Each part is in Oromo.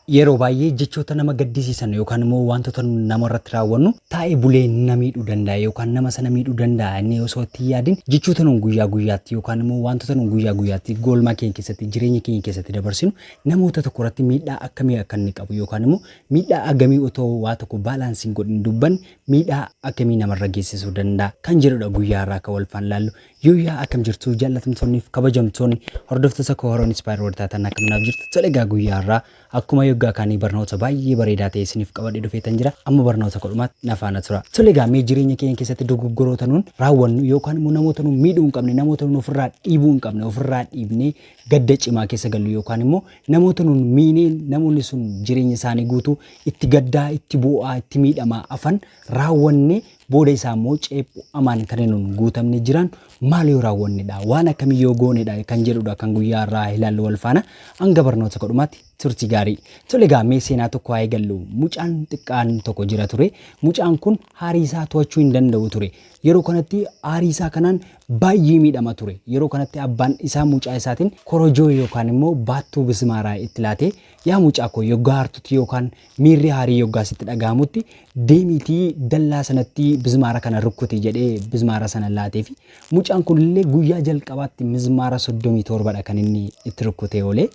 Yeroo baay'ee jechoota nama gaddisiisan yookaan immoo waantota nuti nama irratti raawwannu taa'ee bulee na miidhuu danda'a yookaan nama sana miidhuu danda'a inni osoo itti hin yaadin jechoota nuti guyyaa guyyaatti yookaan immoo waantota nuti guyyaa guyyaatti goolmaa keenya keessatti jireenya keenya keessatti dabarsinu namoota tokko irratti miidhaa akkamii akka inni qabu yookaan immoo miidhaa agamii otoo waa tokko baalaansii hin godhin dubbanne miidhaa akkamii namarra geessisuu danda'a kan jedhudha guyyaa irraa akka wal faan laallu Yooyyaa akkam jirtu jaallatamtoonni fi kabajamtoonni hordoftoota koo warroon Inspire World taatan akkam naaf jirtu tole egaa guyyaa irraa akkuma yoggaa kaanii barnoota baay'ee bareedaa ta'e isiniif qabadhee dhufeetan jira amma barnoota kudhumaatti na faana tura tole egaa mee jireenya keenya keessatti dogoggoroota nuun raawwannu yookaan immoo namoota nuun miidhuu hin qabne namoota nuun ofirraa dhiibuu hin qabne ofirraa dhiibnee gadda cimaa keessa gallu yookaan immoo namoota nuun miinee namoonni sun jireenya isaanii guutuu itti gaddaa itti bu'aa itti miidhamaa afan raawwannee Booda isaa immoo ceephu amaan kan nun guutamne jiraan maal yoo raawwanne dha, waan akkamii yoo goone dha kan jedhu dha kan guyyaa har'aa ilaallu wal faana. Hanga barnoota kodhumaatti turtii gaarii. Tole egaa mee seenaa tokko haa eegallu. Mucaan xiqqaan tokko jira ture. Mucaan kun haarii isaa to'achuu hin danda'u ture. Yeroo kanatti haarii isaa kanaan baay'ee miidhama ture. Yeroo kanatti abbaan isaa mucaa isaatiin korojoo yookaan immoo baattuu bismaaraa itti laatee yaa mucaa koo yoggaa hartutti yookaan Miirri haarii yoggaa sitti dhaga'amutti deemiitii dallaa sanatti bizmaara kana rukkuti jedhee bizmaara sana laateefi mucaan kunillee guyyaa jalqabaatti mizmaara 37 dha kan inni itti rukkutee oole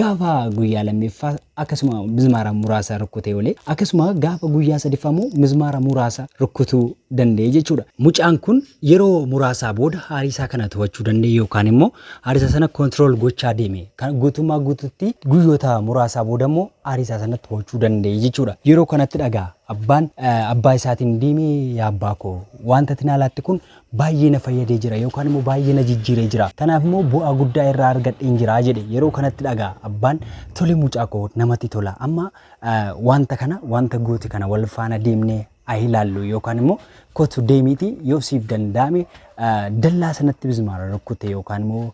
gaafa guyyaa lammeeffaa akkasuma mizmaara muraasa rukkutee oole akkasuma gaafa guyyaa sadiffaa immoo mizmaara muraasa rukkutuu danda'e jechuudha. Mucaan kun yeroo muraasaa booda haarii isaa kana to'achuu danda'e yookaan immoo Ariisaa sana control gochaa deeme. Kan guutummaa guututti guyyoota muraasaa booda immoo ariisaa sana to'achuu danda'e jechuudha. Yeroo kanatti dhagaa abbaan abbaa isaatiin deemee yaa abbaa koo wanta ati naa laatte kun baay'ee na fayyadee jira yookaan immoo baay'ee na jijjiiree jira. Kanaaf immoo bu'aa guddaa irraa argadheen jira jedhe. Yeroo kanatti dhagaa abbaan tole mucaa koo namatti tola amma wanta kana wanta goote kana wal faana deemnee haa ilaallu yookaan immoo kotu deemiiti yoo siif danda'ame dallaa sanatti mizmaara rukkute yookaan immoo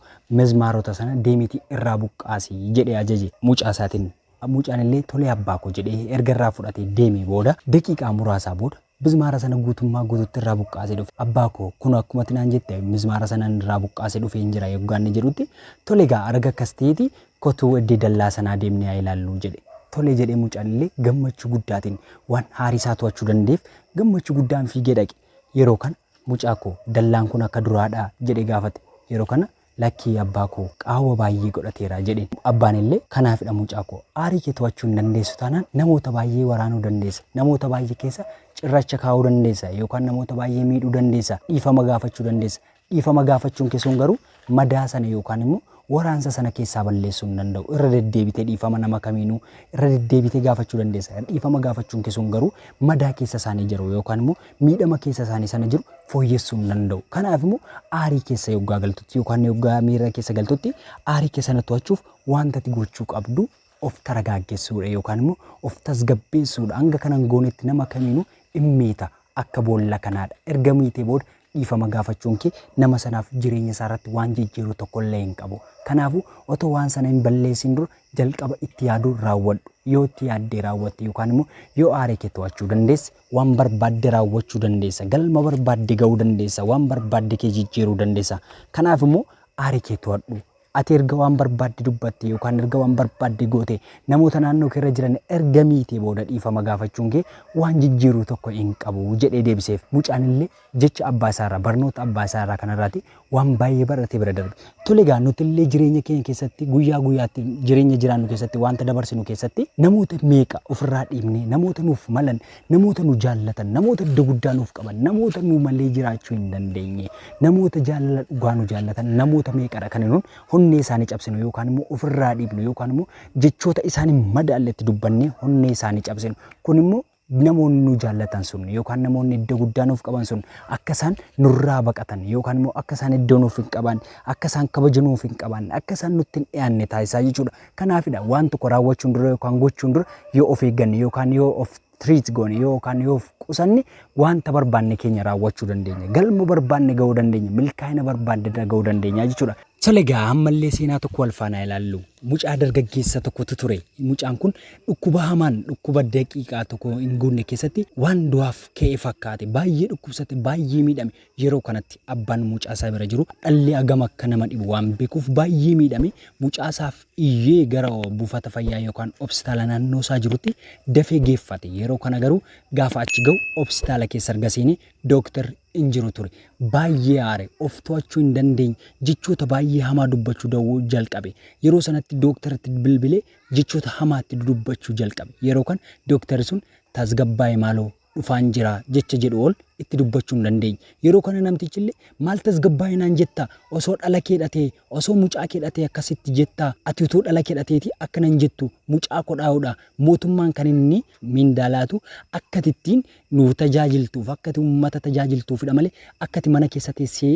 mizmaarota sana deemiiti irraa buqqaasi jedhee ajaje mucaa isaatiin. Mucaan illee tolee abbaa koo jedhee erga irraa fudhatee deemee booda daqiiqaa muraasaa booda mizmaara sana guutummaa guututti irraa buqqaasee dhufe. Abbaa koo kun akkumatti naan jette mizmaara sana irraa buqqaasee dhufee hin jira yoggaanni jedhutti tolegaa arga akkas ta'eeti Kotuu eddee dallaa sanaa deemnee haa ilaalluu jedhe. Tole jedhe mucaan illee gammachuu guddaatiin waan haarii isaa to'achuu danda'eef gammachuu guddaan fiigee dhaqe. Yeroo kana mucaa koo dallaan kun akka duraa dhaa? jedhee gaafate. Yeroo kana lakkii abbaa koo qaawwa baay'ee godhateera jedheen. Abbaan illee kanaafidha mucaa koo aarii kee to'achuu hin dandeessu taanaan namoota baay'ee waraanuu dandeessa, namoota baay'ee keessa cirracha kaa'uu dandeessa yookaan namoota baay'ee miidhuu dandeessa, dhiifama gaafachuu dandeessa Dhiifama gaafachuun kee sun garuu madaa sana yookaan immoo waraansa sana keessaa balleessuu hin danda'u. Irra deddeebitee dhiifama nama kamiinuu irra deddeebitee gaafachuu dandeessa. Dhiifama gaafachuun kee sun garuu madaa keessa isaanii jiru yookaan immoo miidhama keessa isaanii sana jiru fooyyessuu hin danda'u. Kanaaf immoo aarii keessa yoggaa galtutti yookaan yoggaa miira keessa galtutti aarii kee sana to'achuuf wanta ati gochuu qabdu of taragaaggessuudha yookaan immoo of tasgabbeessuudha. Hanga kana hin goonetti nama kamiinuu in miita akka boolla kanaadha. Erga miitee booda dhiifama gaafachuun kee nama sanaaf jireenya isaa irratti waan jijjiiru tokko illee hin qabu. Kanaafuu otoo waan sana hin balleessiin dura jalqaba itti yaaduu raawwadhu. Yoo itti yaaddee raawwatte yookaan immoo yoo aara kee to'achuu dandeesse waan barbaadde raawwachuu dandeessa. Galma barbaadde ga'uu dandeessa. Waan barbaadde kee jijjiiruu dandeessa. Kanaaf immoo aara kee to'adhu. Ati erga waan barbaadde dubbattee yookaan erga waan barbaadde goote namoota naannoo kee irra jiran erga miitee booda dhiifama gaafachuun kee waan jijjiiru tokko hin qabu jedhee deebiseef. Mucaan illee jecha abbaa isaa irraa barnoota abbaa isaa irraa kana irraati waan baay'ee barate bira darbe. Tole egaa nuti illee jireenya keenya keessatti guyyaa guyyaatti jireenya jiraannu keessatti wanta dabarsinu keessatti namoota meeqa ofirraa dhiibnee namoota nuuf malan namoota nu jaallatan, namoota iddoo guddaa nuuf qaban, namoota nu malee jiraachuu hin dandeenye, namoota jaalala dhugaa nu jaallatan, namoota meeqadha kan nuun honnee isaanii cabsinu yookaan immoo ofirraa dhiibnu yookaan immoo jechoota isaanii madaalletti dubbannee honnee isaanii cabsinu. Kun immoo namoonni nu jaallatan sun yookaan namoonni iddoo guddaa nuuf qaban sun akka isaan nurraa baqatan yookaan immoo akka isaan iddoo nuuf hin qaban akka isaan kabaja nuuf hin qaban akka isaan nutti hin dhiyaanne taasisaa jechuudha. Kanaafidha waan tokko raawwachuun dura yookaan gochuun dura yoo of eegganne yookaan yoo of treat goone yookaan yoo of qusanne wanta barbaanne keenya raawwachuu dandeenya. Galma barbaanne ga'uu dandeenya. Milkaa'ina barbaanne irra ga'uu dandeenya jechuudha. Tole egaa ammallee seenaa tokko wal faanaa ilaallu. Mucaa dargaggeessa tokkotu ture. Mucaan kun dhukkuba hamaan dhukkuba daqiiqaa tokko hin guunne keessatti waan du'aaf ka'e fakkaate. Baay'ee dhukkubsate, baay'ee miidhame. Yeroo kanatti abbaan mucaa isaa bira jiru dhalli hagam akka nama dhibu waan beekuuf baay'ee miidhame mucaa isaaf iyyee gara buufata fayyaa yookaan obsitaala naannoo isaa jirutti dafee geeffate. Yeroo kana garuu gaafa achi ga'u obsitaala keessa erga seenee dooktarri hin jiru ture. Baay'ee aare, of to'achuu hin dandeenye, jechoota baay'ee hamaa dubbachuu dawwuu jalqabe. Yeroo sanatti dooktaratti bilbilee jechoota hamaa itti dudubbachuu jalqabe. Yeroo kana dooktarri sun tasgabbaa'e maaloo dhufaan jira jecha jedhu ol itti dubbachuu hin dandeenye. Yeroo kana namtichille maal tasgabbaa'e naan jetta? Osoo dhala kee dhatee, osoo mucaa kee dhatee akkasitti jetta? Ati utuu dhala kee dhateetii akkana hin jettu. Mucaa koo dhahuudha. Mootummaan kan inni mindaa laatu akka ati ittiin nu tajaajiltuuf, akka ati uummata tajaajiltuufidha malee akka ati mana keessa teessee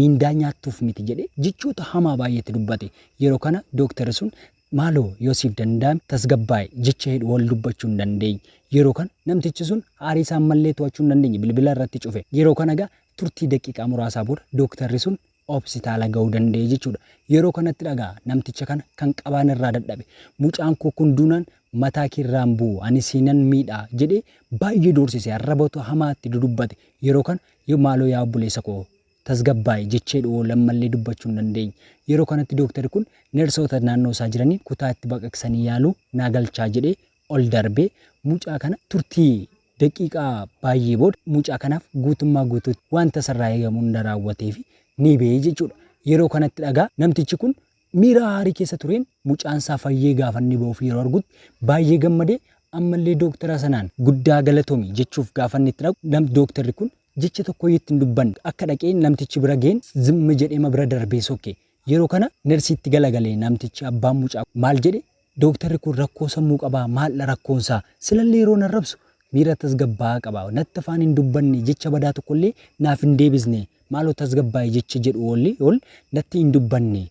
mindaa nyaattuuf miti jedhee jechoota hamaa baay'ee itti dubbate. Yeroo kana dooktarri sun Maaloo yoo siif danda'ame tasgabbaa'i, jecha jedhu wal dubbachuu hin dandeenye. Yeroo kana namtichi sun aarii isaa ammallee to'achuu hin dandeenye bilbila irratti cufe. Yeroo kana egaa turtii daqiiqaa muraasaa booda dooktarri sun Hopsitaala ga'uu danda'e jechuudha. Yeroo kanattidha egaa namticha kana kan qabaan irraa dadhabe. Mucaan koo kun duunaan mataa kee irraa hin bu'u, ani siinan miidha jedhee baay'ee doorsise, arrabatu hamaa itti dudubbate. Yeroo kana maaloo yaa obboleessa koo tasgabbaa'i jecheedhuwoo lammallee dubbachuu hin dandeenye. Yeroo kanatti dooktarri kun nersoota naannoo isaa jiraniin kutaa itti baqaqsanii yaaluu naa galchaa jedhee ol darbee mucaa kana turtii daqiiqaa baayyee booda mucaa kanaaf guutummaa guutuutti wanta isarraa eegamu hunda raawwateefi ni ba'e jechuudha. Yeroo kanatti dhagaa namtichi kun miira aarii keessa tureen mucaan isaa fayyee gaafa inni ba'uuf yeroo argutti baayyee gammadee ammallee dooktara sanaan guddaa galatomi jechuuf gaafa inni itti dhaqu dooktarri kun Jecha tokkoyyu itti hin dubbanne. Akka dhaqee namtichi bira ga'een zimm jedheema bira darbee sokke. Yeroo kana nersiitti galagale namtichi abbaan mucaa kun. Maal jedhe? Dooktarri kun rakkoo sammuu qabaa? Maaldha rakkoonsaa? Silallee yeroo narrabsu miira tasgabbaa'aa qaba. Natti afaan hin dubbanne, jecha badaa tokkollee naaf hin deebisne. Maaloo tasgabbaa'i jecha jedhu ol natti hin dubbanne.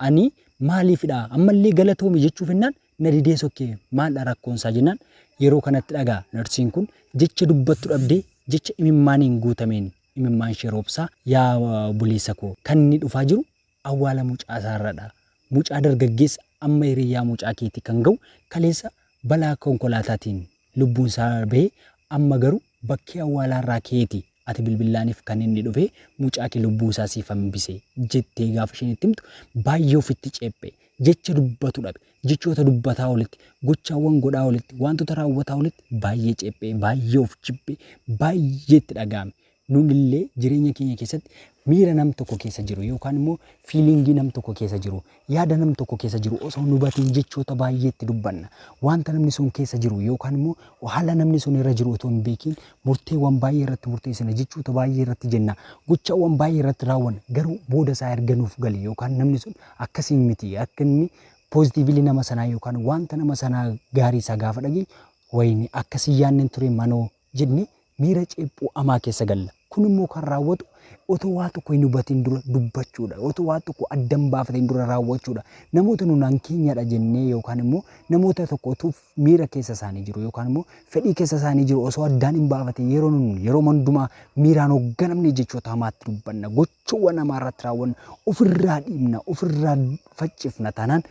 Ani maaliifidha ammallee galatoomi jechuu fennaan na didee sokke maaldha rakkoonsaa jennaan yeroo kanatti dhaga narsiin kun jecha dubbattu dhabdee jecha imimmaaniin guutameen imimmaanshee roobsaa yaa obboleessa koo kan inni dhufaa jiru awwaala mucaasaarradha mucaa dargaggeessa amma hiriyyaa mucaa keetii kan ga'u kaleessa balaa konkolaataatiin lubbuun isaa darbee amma garu bakkee awwaalaa irraa keeti ati bilbillaanif kan inni dhufe mucaake lubbuu isaa siif hambise jettee gaafa isheen itti himtu baay'ee ofitti ceephe jecha dubbatu dhabe jechoota dubbataa olitti gochaawwan godhaa olitti waantota raawwataa olitti baay'ee ceephee baay'ee of jibbe baay'ee itti dhaga'ame Nun illee jireenya keenya keessatti miira nam tokko keessa jiru yookaan immoo fiiliingii nam tokko keessa jiru, yaada nam tokko keessa jiru osoo hin hubatiin jechoota baay'ee itti dubbanna. Wanta namni sun keessa jiru yookaan immoo haala namni sun irra jiru otoo hin beekiin murteewwan baay'ee irratti murteessina, jechoota baay'ee irratti jenna, gochawwan baay'ee irratti raawwanna. Garuu booda isaa erga nuuf gale yookaan namni sun akkasii miti akka inni poozitiivilii nama sanaa yookaan wanta nama sanaa gaarii isaa gaafa dhageenyu wayinee akkasii yaadne hin ture manoo jennee miira ceephuu amaa keessa galla. Kun immoo kan raawwatu otoo waa tokko hin hubatiin dura dubbachuudha. Otoo waa tokko adda hin baafatiin dura raawwachuudha. Namoota nu naan keenyadha jennee yookaan immoo namoota tokko utuu miira keessa isaanii jiru yookaan immoo fedhii keessa isaanii jiru osoo addaan hin baafatiin yeroo nun yeroo hundumaa miiraan hoogganamne jechoota hamaatti dubbanna. Gochawwan hamaa irratti raawwanna. Ofirraa dhiibna, ofirraa faccifna taanaan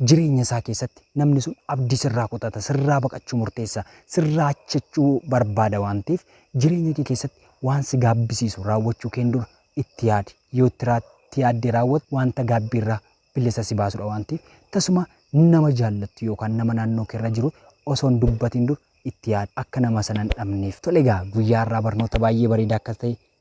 Jireenya isaa keessatti namni sun abdii sirraa kutata, sirraa baqachuu murteessa, sirraa achachuu barbaada waan ta'eef jireenya kee keessatti waan si gaabbisiisu raawwachuu keen dura itti yaadi. Yoo itti raa itti yaaddee raawwatte wanta gaabbii irraa bilisa si baasudha waan ta'eef tasuma nama jaallattu yookaan nama naannoo kee irra jiru osoo hin dubbatiin dura itti yaadi akka nama sana hin dhabneef. Tole egaa guyyaa har'aa barnoota baay'ee bareedaa akka ta'e